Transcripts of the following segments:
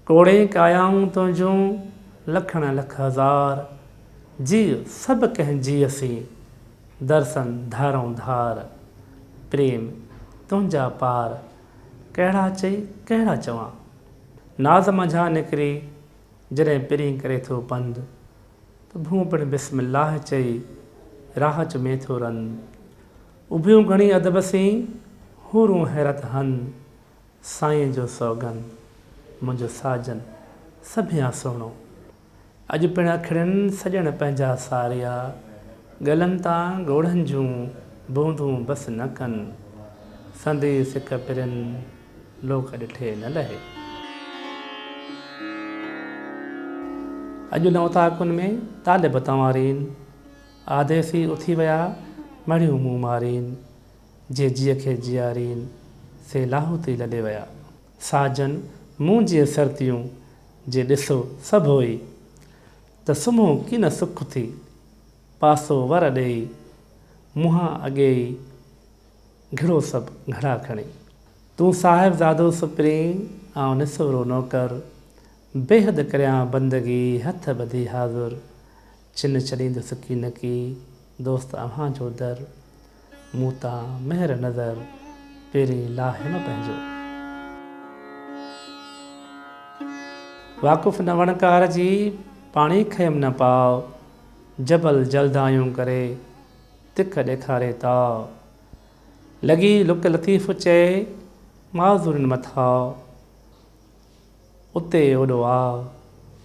ٽوڙي ڪايائون تنهنجون لکڻ لک هزار، جيء سڀ ڪنهن جيء سين، درسن ڌارئون ڌار. پريم تنهنجا پار، ڪهڙا چئي ڪهڙا چوان. ناز منجهان نڪري، جڏهن پرين ڪري ٿو پنڌ، ته ڀونء پڻ بسم الله چئي، راهه چمي ٿو رنڌ. اڀيون گهڻي ادب سين، حورون حيرت هنڌ. سائين جو سوگند منهنجو ساجن سڀيان سهڻو. اڄ پڻ اکڙين سڄڻ پنهنجا ساريا، ڳلن تان ڳوڙهن جون بوندون بس نه ڪن، سندي سڪ پرين لوڪ ڏٺي نه لهي. اڄ ان اوطاقن ۾ طالب تنوارين، آديسي اٿي ويا مڙهيون مون مارين، جي جيء کي جيارين، سي لاهوتي لڏي ويا. ساجن مون جيء سرتيون، جي ڏسو سڀ هوئي. ته سمهو ڪين سک ٿي، پاسو ور ڏيئي. منهان اڳي ئي گهڙو سڀ گهڙا کڻي. تون صاحبزادو سپرين، آئون نسورو نوڪر. بيحد ڪريان بندگي، هٿ ٻڌي حاضر. چن ڇڏيندس ڪين ڪي، دوست اوهان جو در. مون تان مهر نظر پيرين لاهه نه پنهنجو. واقف نه وڻڪار جي پاڻي کيم نه پاء. جبل جلدايون ڪري تک ڏيکاري تاء. لڳي لڪ لطيف چئي معذورين مٿاء. اتي اوڏو آء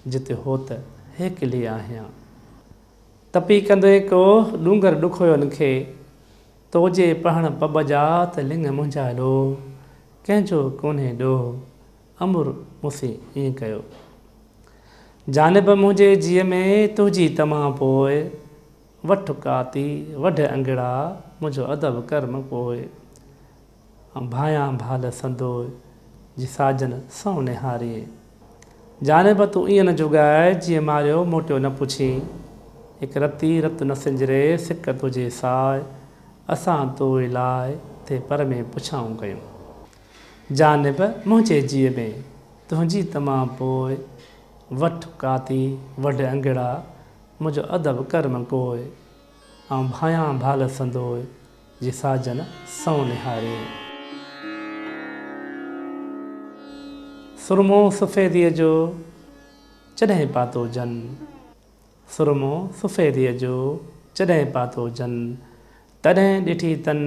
جت هوت هيڪلي آهيان. تپي ڪندي ڪو ڏونگر ڏکويو لکي. تو جي پهڻ پٻ جا ته لڱ منهنجا لوهه، ڪنهن جو ڪونهي ڏوهه، امر مونسي ائين ڪيو. جانب منهنجي جيء ۾ تنهنجي تمع پوء، وٺ ڪاتي، وڍ انگڙا، منهنجو ادب ڪر مپوء. ڀانئيان ڀال سندوء جي ساجن سئو نهاري. جاني به تون ائين نه جڳاء جيئن ماريو موٽيو نه پڇين. هڪ رتي رت نه سنجري سڪ تنهنجي ساء اسان توء لاء تي پر ۾ پڇائون ڪيون. جاني به منهنجي جيء ۾ تنهنجي تمام پوء وٺ ڪاتي وڍ انگڙا منهنجو ادب ڪر م ڪوء آئون ڀانئيان ڀال سندوء جي ساجن سنئون نهاري. سرمو سفيديء جو جڏهن پاتو جن. سرمو سفيديء جو جڏهن پاتو جن. تڏهن ڏٺي تن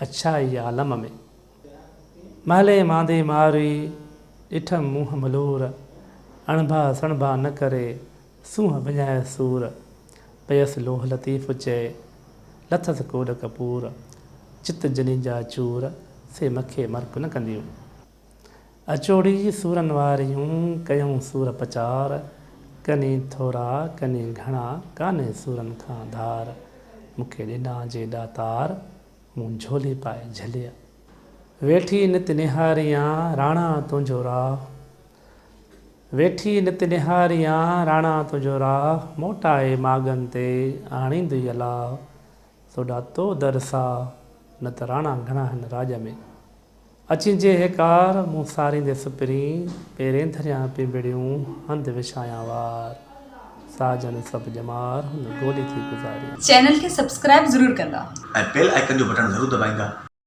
اڇائي عالم ۾. مهلي ماندي ماروي ڏٺم منهن ملور. اڻڀا سڻڀا نه ڪري سونهن وڃايس سور، پيس لوهه لطيف چئي، لٿس ڪوڏ ڪپور، چت جنين جا چور، سي مکي مرڪ نه ڪنديون. اچوڙي سورن واريون، ڪيئون سور پچار، ڪني ٿورا، ڪني گهڻا، ڪانهي سورن کان ڌار، مونکي ڏنا جي ڏاتار، مون جهولي پائي جهليء. ويٺي نت نهاريان، راڻا تنهنجو راهه، ويٺي نت نهاريان راڻا تنهنجو راهه موٽائي ماڳن تي آڻيندئي الاهه سوڍا تو در ساهه نت راڻا گهڻا هن راڄ ۾. اچين جي هيڪار مون ساريندي سپرين پيرين ڌريان پنبڙيون هنڌ وڇايان وار ساهه جن سڀ ڄمار هن گولي ٿي گذاريان. چينل کي سبسڪرائب ضرور ڪندا. ۽ بيل آئيڪن جو بٽڻ ضرور دٻائيندا.